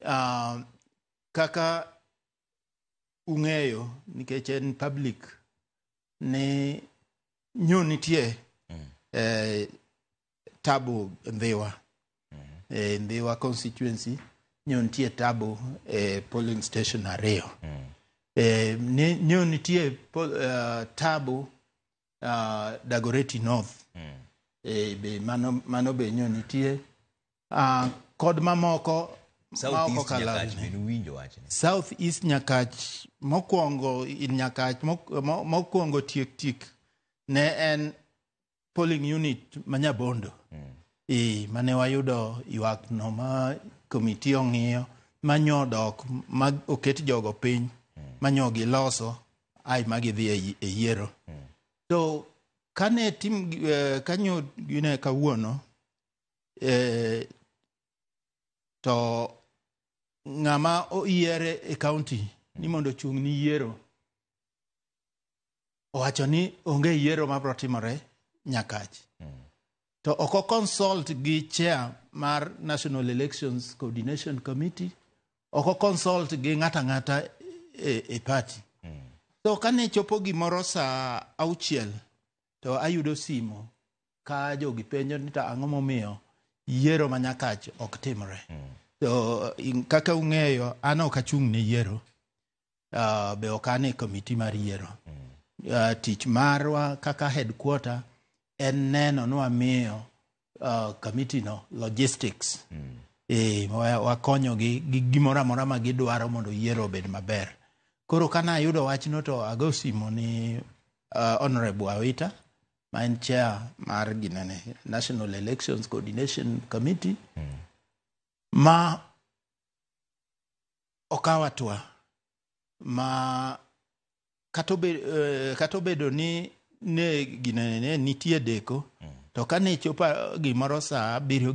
uh, kaka ung'eyo nikech en public ni nyo nitie mm. eh, tabu Ndhiwa mm -hmm. eh, Ndhiwa constituency nyo nitie tabu eh, polling station ariyo mm. eh, nyo nitie pol, uh, tabu uh, Dagoretti North mm. e, be mano, mano be nyo nitie uh, kod mamoko South East Nyakach mokwongo Nyakach mokwongo tiek tiek ne en polling unit ma Nyabondo mm. e, mane wayudo ywak no ma komiti ong'iyo manyo dok ma oket jogo piny mm. manyo giloso ai ma gidhi e yi- e yiero to kane tim eh, kanyo gine kawuono eh, to ng'ama oyiere e kaunti ni mondo ochung' ni yiero owacho ni onge yiero mabiro timore nyakach to ok oconsult gi chair mar National Elections Coordination Committee, ok oconsult gi ng'ata ng'ata e, e party. Mm. So kane chopo gimoro sa auchiel to ayudo simo ka jogi penjo ni to ang'o momiyo yiero ma nyakach ok timre. Mm. To kaka ung'eyo an ok achung' ne yiero. uh, be ok an e komiti mar yiero uh, tich marwa kaka headquarter en neno ni wamiyo uh, komiti no logistics mm. e, wakonyogi gi gimoro amora ma gidwaro mondo yiero obed maber koro kana ayudo wachno to ago simo ni uh, honorable awita ma en chair mar ginene national elections coordination committee mm. ma okawo atwa ma kata obe- eh, kata obedo ni ne ginene nitie deko to kane ichopo gimoro saa abiriyo